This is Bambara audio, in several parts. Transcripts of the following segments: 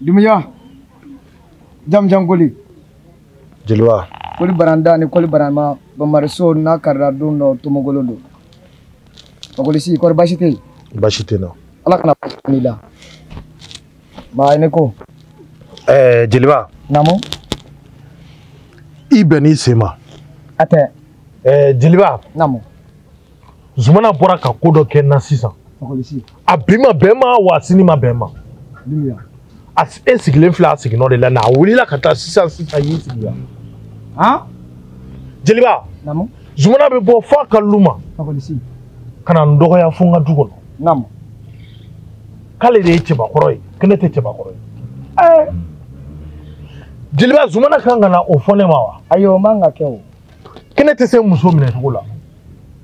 Dumuya jamujan koli jeliba koli baranda ni koli barama bamariso n'a karila don dɔ tomogolo don fakolisi kɔri basi tɛ yen basi tɛ n na ala kana ni la maa ne ko ɛɛ jeliba naamu i bɛnn'i sen ma a tɛ ɛɛ jeliba. naamu. zumana bɔra ka ko dɔ kɛ n na sisan. fakɔlisi. a bi ma bɛn n ma wa a sini ma bɛn n ma. dumuya. a e sigilen filɛ a siginɔ de la na a wulila ka taa sisan sisan i y'i sigi yan. han. jeliba. naamu. zumana bɛ bɔ f'a ka lu ma. fakɔlisi. ka na n dɔgɔya fo n ka du kɔnɔ. naamu. k'ale de ye cɛbakɔrɔ ye ko ne tɛ cɛbakɔrɔ ye. ɛɛ. jeliba zumana kan ka na o fɔ ne ma wa. ayi o man ka kɛ o. ko ne tɛ se muso minɛ cogo la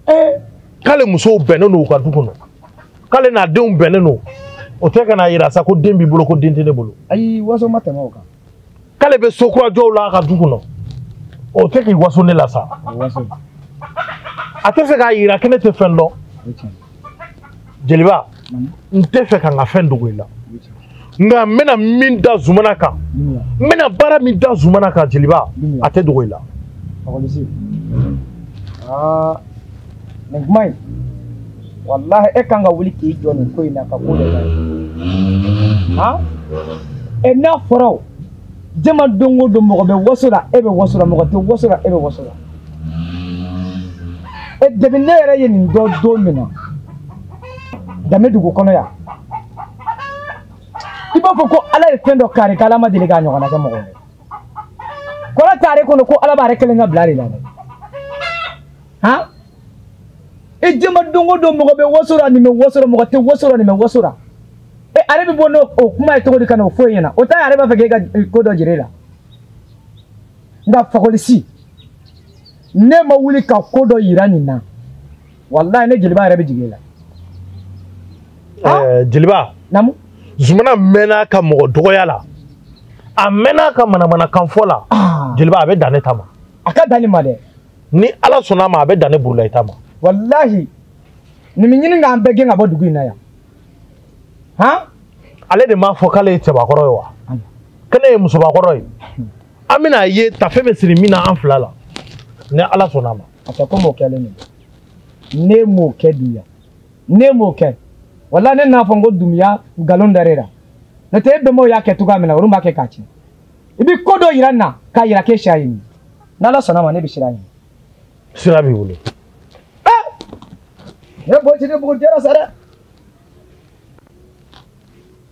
ee k'ale musow bɛnnen don u ka du kɔnɔ k'ale n'a denw bɛnnen don o tɛ ka n'a yira sa ko den b'i bolo ko den tɛ ne bolo ayi waso ma tɛmɛ o kan k'ale bɛ so kura jɔ la a ka du kɔnɔ o tɛ k'i waso ne la sa a t'a fɛ k'a yira ko ne tɛ fɛn dɔn jeliba n t'a fɛ ka n ka fɛn dogo i la nka n bɛna min da zumana kan n bɛna baara min da zumana kan jeliba a tɛ dogo i la nin kuma in walahi e kan ka wuli k'i jɔ nin ko in na ka ko dɔ la han e n'a fɔra o jama don o don mɔgɔ bɛ waso la e bɛ waso la mɔgɔ tɛ waso la e bɛ waso la e depi ne yɛrɛ ye nin dɔn don min na an bɛ dugu kɔnɔ yan i b'a fɔ ko ala ye fɛn dɔ k'ale ye k'ala ma deli k'a ɲɔgɔnna kɛ mɔgɔ ye kɔrɔ t'ale kɔnɔ ko ala b'ale kelen ka bila de la dɛ han i jɛma don o don mɔgɔ bɛ waso la nin bɛ waso la mɔgɔ tɛ waso la nin bɛ waso la e ale bɛ bɔ n'o kuma ye cogo di ka n'o fɔ e ɲɛna o t'a ye ale b'a fɛ k'e ka ko dɔ jira ale la nka fakɔlisi n'e ma wuli ka ko dɔ yira nin na walayi ne jeliba yɛrɛ bɛ jigin e la. Eh, jeliba. naamu. zumana mɛnna ka mɔgɔ dɔgɔya la a mɛnna ka manamanakan fɔ la ah. jeliba a bɛ dan ne ta ma. a ka dan ne ma dɛ. ni ala sɔnna a ma a bɛ dan ne burulayi ta ma. walahi nin b'a ɲini k'an bɛɛ gɛn ka bɔ dugu in na yan. han ale de m'a fɔ k'ale ye cɛbakɔrɔ ye wa ko ne ye musobakɔrɔ ye an bɛn'a ye taafe bɛ siri min na an fila la ni ala sɔnna a ma a tɛ komi o kɛlen don n'e m'o kɛ dumuya n'e m'o kɛ wala ne n'a fɔ n ko dumuya nkalon dara e la n'o tɛ e bɛnbaw y'a kɛ cogoya min na olu b'a kɛ k'a tiɲɛ i bɛ ko dɔ yira n na k'a yira k'e siya ye nin ye n'ala sɔnna a ma ne bɛ siran a ɲɛ sira b'i bolo ne bɔ ti ne bugu jɛra sa dɛ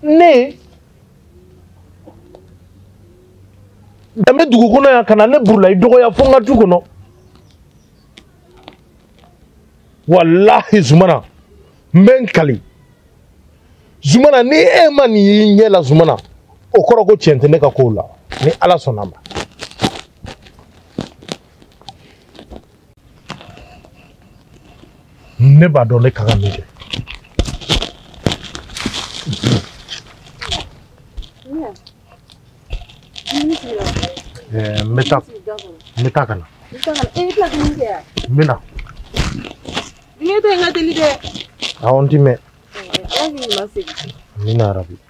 ne danbe dugu kɔnɔ yan ka na ne burulayi dɔgɔya fo n ka du kɔnɔ walahi zumana n bɛ n kali zumana ni e ma nin y'i ɲɛ la zumana o kɔrɔ ko tiɲɛ tɛ ne ka kow la ni ala sɔnna a ma ne b'a dɔn ne ka kan min kɛ n bɛ taa n bɛ taa ka na n bɛ na awɔ n ti mɛn n bɛ na arabi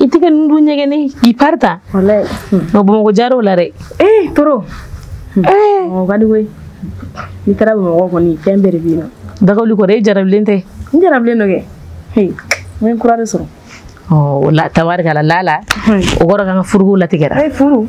i tɛ ka ninnu dun ɲɛgɛnni k'i pari ta nka bamakɔ jar'o la dɛ ee toro mɔgɔ ka di koyi n'i taara bamakɔ kɔni fɛn bɛɛ de bɛ yen nɔ dagawuli kɔrɔ e jarabilen tɛ n jarabilen don kɛ n ye kura de sɔrɔ o la tabarikala lala o kɔrɔ k'an ka furuko latigɛra furu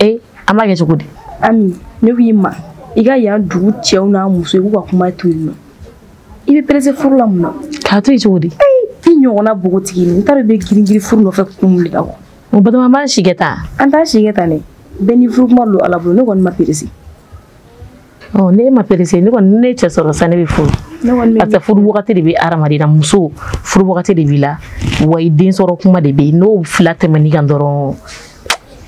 ee an b'a kɛ cogo di ami ne ko i ma i ka yan dugu cɛw n'a muso i k'u ka kuma to yen nɔ i bɛ perese furu la mun na k'a to yen cogo di i ɲɔgɔnna bogotigi n t'a dɔn i bɛ giringirin furu nɔfɛ kun wuli la wa o batoma b'an si kɛ tan an t'an si kɛ tan dɛ bɛɛ ni furu kuma don ala bolo ne kɔni ma perese ɔ ne ma perese ne kɔni n ye cɛ sɔrɔ sa ne bɛ furu parce que furu wagati de bɛ hadamaden na muso furu wagati de b'i la wa i den sɔrɔ kuma de bɛ yen n'o fila tɛmɛn'i kan dɔrɔn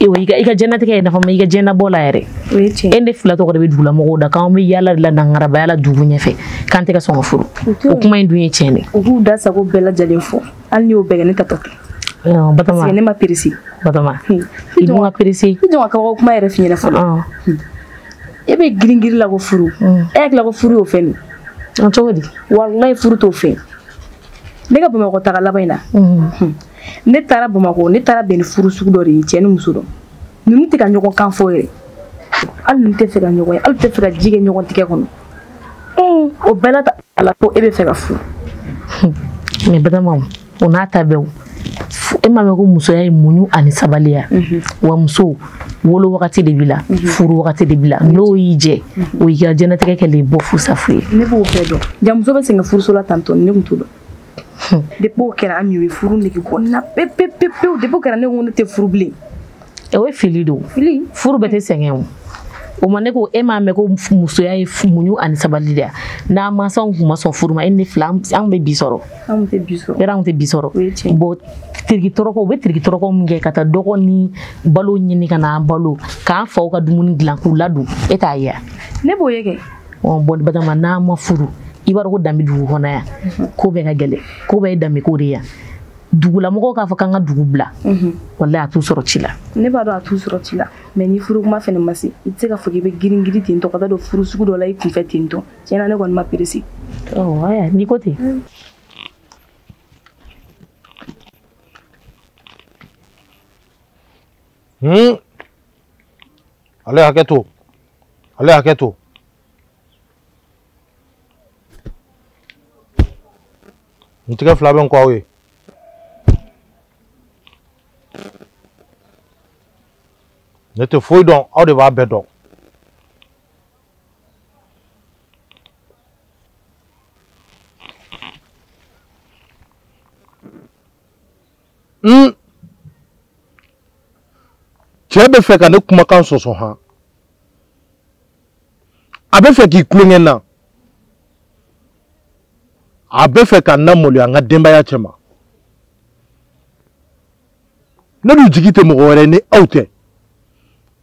i ka i ka jɛnatigɛ ye nafa ma i ka jɛnabɔ la yɛrɛ e ne fila tɔgɔ de bɛ dugu la mɔgɔw da k'an bɛ yaala de la nangarabaya la dugu ɲɛfɛ k'an tɛ ka sɔn ka furu o kuma in dun ye tiɲɛ de u k'u da sago bɛɛ lajɛlen fɔ hali n'i y'o bɛɛ kɛ ne ta tɔ batoma ne ma perese batoma i dun ma perese i to n ka kabako kuma yɛrɛ f'i ɲɛna fɔlɔ e bɛ girin girin la ko furu mm. e hakili la ko furu y'o fɛn de ye cogo di walayi furu t'o fɛn ne ka bamakɔ taga laban in na mm. hmm. ne taara bamakɔ ne taara bɛn ni furu sugu dɔ de ye cɛ ni muso dɔ ninnu tɛ ka ɲɔgɔn kan fɔ yɛrɛ hali ninnu tɛ fɛ ka ɲɔgɔn ye hali tɛ fɛ ka ji kɛ ɲɔgɔn tigɛ kɔnɔ hmm. o bɛɛ la ta ala ko e bɛ fɛ ka furu hmm. mais batoma o n'a ta bɛɛ e m'a mɛn ko musoya ye muɲu ani sabali ye mhm. wa muso wolo wagati de b'i la mhm. furu wagati de b'i la mhm. n'o y'i jɛ o y'i ka jɛnatigɛ kɛlen bɔ fu sa fu ye ne b'o bɛɛ dɔn ja muso bɛ sɛgɛn furuso la tan tɔ ne tun t'o dɔn hmm. depuis o kɛra ami o ye furu nege bɔ n na pewu pewu pewu depuis o kɛra ne ko ne tɛ furu bilen o ye fili don fili furu bɛɛ tɛ sɛgɛn o o ma ne ko e m'a mɛn ko musoya ye muɲu ani sabali de ye n'an mansaw tun ma sɔn furu ma e ni fila an bɛ bi sɔrɔ anw tɛ bi sɔrɔ yɛrɛ anw tɛ bi sɔrɔ bɔn tiriki tɔrɔkɔ u bɛ tiriki tɔrɔkɔ min kɛ ka taa dɔgɔ ni balo ɲini ka n'an balo k'an faw ka dumuni dilan k'u ladon e t'a ye ne b'o ye kɛ bɔn batama n'an ma furu i b'a dɔn ko danbe dugu kɔnɔ yan ko bɛɛ ka gɛlɛn ko bɛɛ ye danbe ko de yan dugulamɔgɔw k'a fɔ k'an ka dugu bila mhm. walayi a t'u sɔrɔ ci la ne b'a dɔn a t'u sɔrɔ ci la mɛ ni furu kuma fɛnɛ ma se i tɛ se k'a fɔ k'i bɛ girin girin ten tɔ ka taa don furu sugu dɔ la i kunfɛ ten tɔ tiɲɛ na ne kɔni ma perese a la n'i ko ten mm. hmm. a ye hakɛ to a ye hakɛ to n tigɛ fila bɛ n kɔ aw ye ne tɛ foyi dɔn aw de b'a bɛɛ dɔn cɛ bɛ fɛ ka ne kumakan sɔsɔ han a bɛ fɛ ka tulon kɛ n na a bɛ fɛ ka na n maloya n ka denbaya cɛma ne dun jigi tɛ mɔgɔ wɛrɛ ni aw tɛ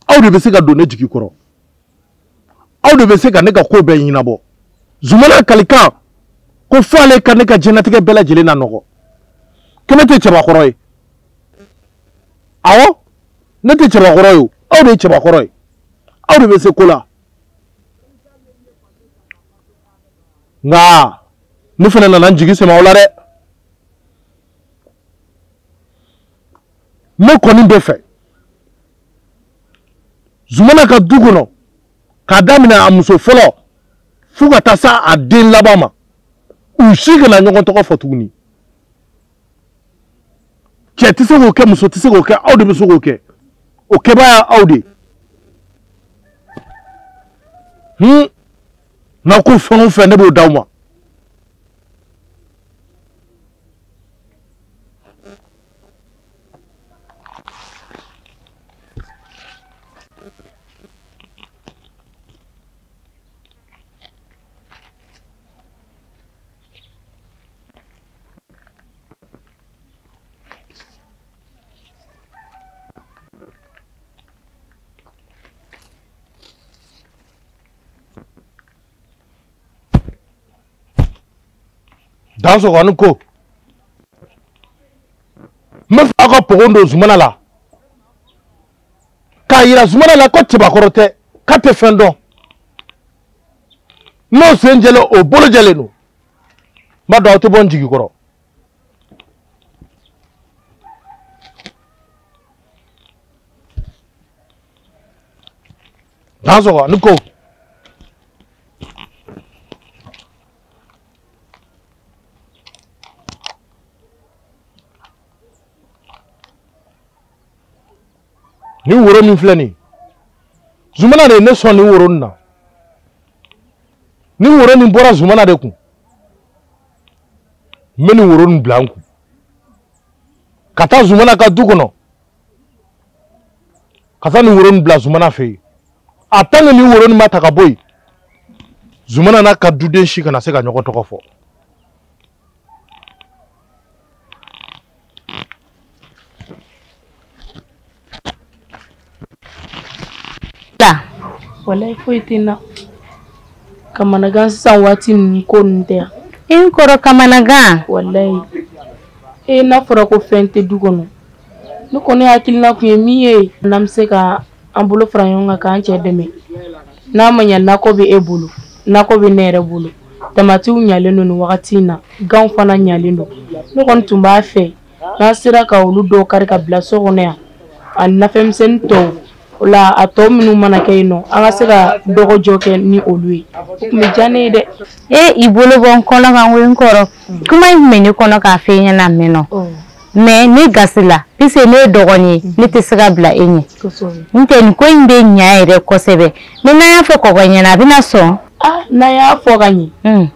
aw de bɛ se ka don ne jigi kɔrɔ aw de bɛ se ka ne ka ko bɛɛ ɲɛnabɔ zumana kalikan ko fo ale ka ne ka diɲɛlatigɛ bɛɛ lajɛlen nanɔgɔ ko ne tɛ cɛbakɔrɔ ye awɔ ne tɛ cɛbakɔrɔ ye o aw de ye cɛbakɔrɔ ye aw de bɛ se ko la nka ne fana nana n jigi sɛmɛ aw la dɛ ne kɔni bɛ fɛ zumana ka du kɔnɔ k'a daminɛ a muso fɔlɔ fo ka taa se a den laban ma u si kana ɲɔgɔn tɔgɔ fɔ tuguni cɛ tɛ se k'o kɛ muso tɛ se k'o kɛ aw de bɛ se k'o kɛ o kɛbaa ye aw de hun n'aw ko fɛn o fɛn ne b'o d'aw ma dansɔgɔni ko n b'a fɛ aw ka pogo don zumana la k'a yira zumana la ko cɛbakɔrɔ tɛ k'a tɛ fɛn dɔn n'o sen jɛlen o bolo jɛlen don n b'a dɔn aw tɛ bɔ n jigi kɔrɔ dansɔgɔni ko nin woro min filɛ nin zumana de ye ne sɔn nin woro nin na nin woro nin bɔra zumana de kun n bɛ nin woro nin bila n kun ka taa zumana ka du kɔnɔ ka taa nin woro nin bila zumana fɛ yen a tant que nin woro nin ma ta ka bɔ yen zumana n'a ka duden si kana se ka ɲɔgɔn tɔgɔ fɔ walayi foyi tɛ n na kamanagan sisan waati ninnu ko ninnu tɛ yan i n kɔrɔ kamanagan walayi e n'a fɔra ko fɛn tɛ du kɔnɔ ne kɔni hakilina tun ye min ye n'an bɛ se ka an bolo fara ɲɔgɔn kan k'an cɛ dɛmɛ n'a ma ɲɛ nakɔ bɛ e bolo nakɔ bɛ ne yɛrɛ bolo tamatiw ɲalen don nin wagati in na ganw fana ɲalen don ne kɔni tun b'a fɛ n'an sera ka olu dɔw kari ka bila so kɔnɔ yan a nafɛnmisɛnnin tɔw o la a tɔ minnu mana kɛ yen nɔ an ka se ka dɔgɔjɔ kɛ ni olu ye o tun bɛ diya ne ye dɛ e i bolo bɔ n kɔnɔ kan n ko n kɔrɔ kuma in tun bɛ ne kɔnɔ k'a fɔ e ɲɛna mɛn nɔ mais ne gasi la puisque ne ye dɔgɔnin ye ne tɛ se ka bila e ɲɛ n tɛ nin ko in bɛ ɲa yɛrɛ kosɛbɛ mais n'an y'a fɔ kɔkɔ ɲɛna a bɛna sɔn n'an y'a fɔ ka ɲɛ hmm.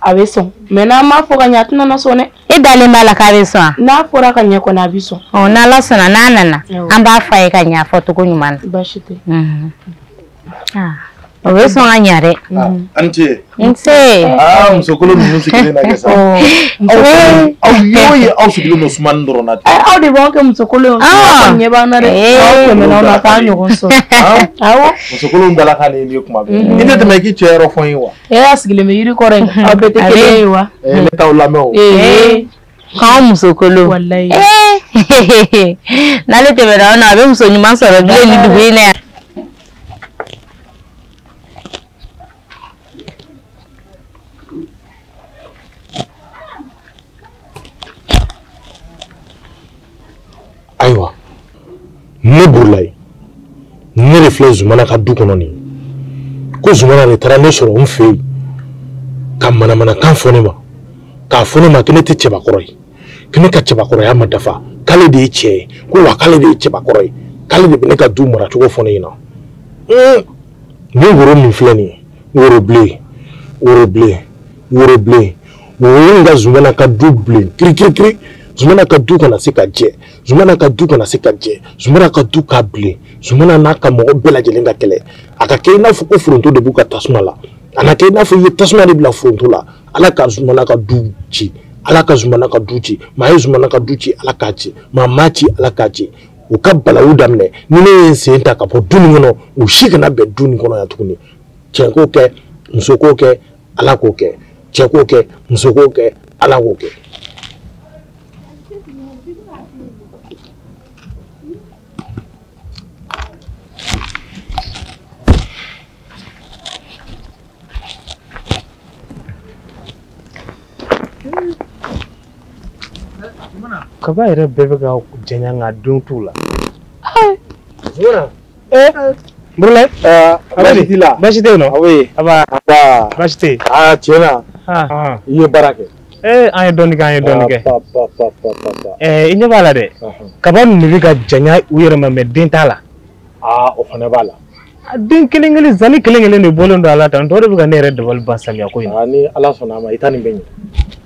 a bɛ sɔn mais n'an m'a fɔ ka ɲɛ a tɛna na sɔn dɛ e dalen b'a la k'a bɛ sɔn n'a fɔra ka ɲɛ kɔni a bɛ sɔn ɔ n'ala sɔnna n'a nana an b'a fɔ a ye ka ɲɛ a fɔcogo ɲuman na baasi tɛ mhm. o bɛ sɔn ka ɲɛ dɛ an ce nse musokolo ninnu sigilen na kɛ sa aw y'o ye aw sigilen don sumani dɔrɔn na ten aw de b'a kɛ musokolo ɲɛ b'an na dɛ aw tɛmɛna aw na k'an ɲɔgɔn sɔrɔ awɔ musokolo dala ka nin ye kuma bɛɛ i tɛ tɛmɛ i k'i cɛ yɔrɔ fɔ n ye wa e y'a sigilen bɛ yiri kɔrɔ yen aw bɛɛ tɛ kelen ye wa ne t'aw lamɛn o k'an musokolo walayi eh, n'ale tɛmɛna aw na a bɛ muso ɲuman sɔrɔ bilen ni dugu in na yan. ayiwa ne burulayi ne de filɛ zumana ka du kɔnɔ nin ko zumana de taara ne sɔrɔ n fɛ yen ka manamanakan fɔ ne ma k'a fɔ ne ma ko ne tɛ cɛbakɔrɔ ye ko ne ka cɛbakɔrɔya ma dafa k'ale de ye cɛ ye ko wa k'ale de ye cɛbakɔrɔ ye k'ale de bɛ ne ka du maracogo fɔ ne ɲɛna ni woro min filɛ nin ye woro bilen woro bilen woro bilen woro in ka zumana ka du bilen kirikirikiri zumana ka du kana se ka jɛ zumana ka du kana se ka jɛ zumana ka du ka bilen zumana n'a ka mɔgɔ bɛɛ lajɛlen ka kɛlɛ a ka kɛ i n'a fɔ ko foronto de b'u ka tasuma la a na kɛ i n'a fɔ i ye tasuma de bila foronto la ala ka zumana ka du ci ala ka zumana ka du ci maa ye zumana ka du ci ala k'a ci maa m'a ci ala k'a ci u ka balawu daminɛ ni ne ye n sen ta ka bɔ du nin kɔnɔ u si kana bɛn du nin kɔnɔ yan tuguni cɛ k'o kɛ muso k'o kɛ ala k'o kɛ cɛ k'o kɛ muso k'o kɛ ala k'o kɛ kaba yɛrɛ bɛɛ bɛ ka janya nka den t'u la Eh, Burulayi. Aa, baasi t'i la? Baasi tɛ yen nɔ. Aw bɛ yen? An baa. An baa. Baasi tɛ yen. Aa tiɲɛ na. Aa. I ye baara kɛ. Ee an ye dɔɔnin kɛ an ye dɔɔnin kɛ. Ba ba ba ba ba ba. Ɛɛ i ɲɛ b'a la dɛ. Kaba ninnu de bɛ ka janya u yɛrɛ ma mais den t'a la. Aa o fana b'a la. A den kelen kelen zani kelen kelen de bɔlen don a la tan tɔ de bɛ ka ne yɛrɛ dabali ban samiya ko in na. Aa ni Ala sɔnna a ma i ta nin bɛ ɲɛ.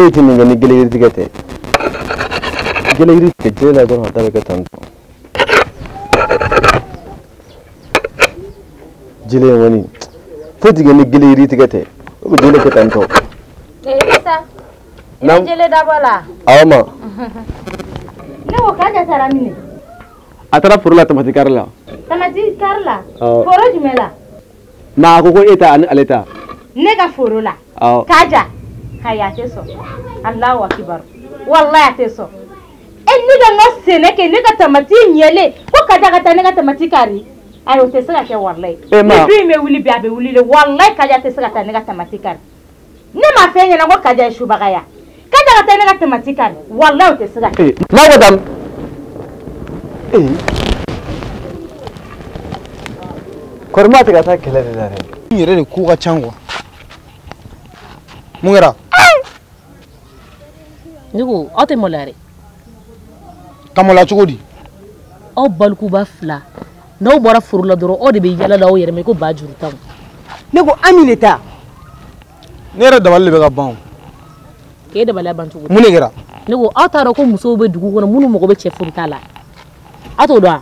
foyi tɛ nin kɛ ni gele yiri tigɛ tɛ gele yiri tigɛ jele la dɔrɔn a da bɛ kɛ tan tɔ jele in kɔni foyi tɛ kɛ ni gele yiri tigɛ tɛ o bɛ jele kɛ tan tɔ. ee isa i bɛ jele dabɔ la. awɔ ma. ne ko kaja taara min. a taara foro la tamati kari la. tamati kari la. foro jumɛn la. ma a ko ko e ta ani ale ta ne ka foro la kaja ayi a tɛ sɔn alahu akibaru walayi a tɛ sɔn e ne ka n ka sɛnɛ kɛ ne ka tamati ɲɛlen ko kaja ka taa ne ka tamati kari ayi o tɛ se ka kɛ walayi ni du in bɛ wuli bi a bɛ wuli de walayi kaja tɛ se ka taa ne ka tamati kari ne ma fɔ i ɲɛna ko kaja ye subaga ya kaja ka taa ne ka tamati kari walayi o tɛ se ka kɛ. n'a ko dam ee kɔri ma tɛ ka taa kɛlɛ de la dɛ. n yɛrɛ de ko ka can kuwa mun kɛra. ne ko aw tɛ maloya dɛ. ka maloya cogo di. aw balikuba fila. n'aw bɔra foro la dɔrɔn aw de bɛ yaala la aw yɛrɛ ma i ko ba juru tan ne ko ami de ta ne yɛrɛ dabali de bɛ ka ban k'e dabaliya ban cogo di mun de kɛra ne ko aw t'a dɔn ko musow bɛ dugu kɔnɔ minnu mago bɛ cɛ furuta la aw t'o dɔn wa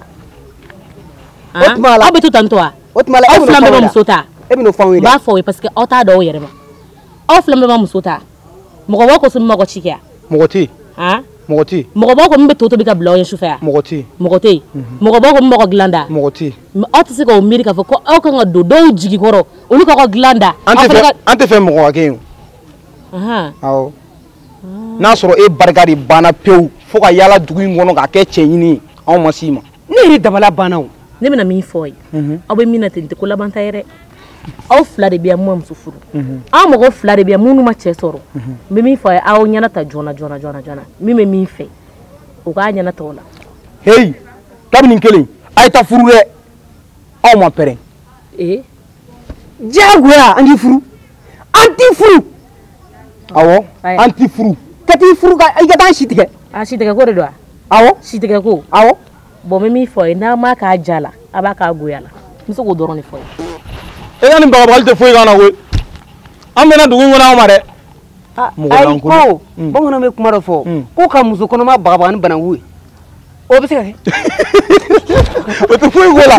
o tuma la aw bɛ to tan to wa o tuma la aw fila bɛɛ ma muso ta e bɛn'o fɔ anw ye dɛ n b'a fɔ aw ye parce que aw t'a dɔn aw yɛrɛ ma aw fila bɛɛ ma muso ta mɔgɔ b'aw kɔ so min b'aw ka ci kɛ mɔgɔ tɛ yen mɔgɔ tɛ yen mɔgɔ b'aw kɔ min bɛ to tobi ka bila aw ye sufɛ yan mɔgɔ tɛ yen mɔgɔ tɛ yen mɔgɔ b'aw kɔ min b'aw ka dilan da mɔgɔ tɛ yen aw tɛ se k'aw miiri k'a fɔ ko aw kan ka don dɔw jigi kɔrɔ olu k'aw ka dilan da an tɛ fɛ an tɛ fɛ mɔgɔ ka kɛ yen o awɔ n'a sɔrɔ e barika de banna pewu fo ka yaala dugu in kɔnɔ k'a kɛ cɛɲini ye anw ma s'i ma ne yɛrɛ dabala banna o ne bɛna min fɔ a ye mhm. aw bɛ min na ten tɛ ko labanta yɛrɛ aw fila de bɛ yan mun ma muso furu mhm. aw mɔgɔ fila de bɛ yan minnu ma cɛ sɔrɔ mhm. n bɛ min fɔ a ye aw ɲɛnata joona joona joona joona min bɛ min fɛ o k'a ɲɛnata o la. heyi kabini kelen a ye taa furu dɛ aw ma pɛrɛn. ee. diyagoya an t'i furu an t'i furu awɔ an t'i furu ka t'i furu ka i ka taa an si tigɛ a si tigɛ ko de don wa awɔ si tigɛ ko awɔ bon n bɛ min fɔ a ye n'a m'a k'a diya la a b'a k'a goya la n bɛ se k'o dɔrɔn de fɔ a ye e ka nin bagabagali tɛ foyi k'an na koyi an bɛna dugu in kɔnɔ aw ma dɛ ayi ko mm. bamananw bɛ kuma dɔ fɔ mm. ko ka muso kɔnɔma bagabaga ni bananku ye o bɛ se ka kɛ o tɛ foyi k'o la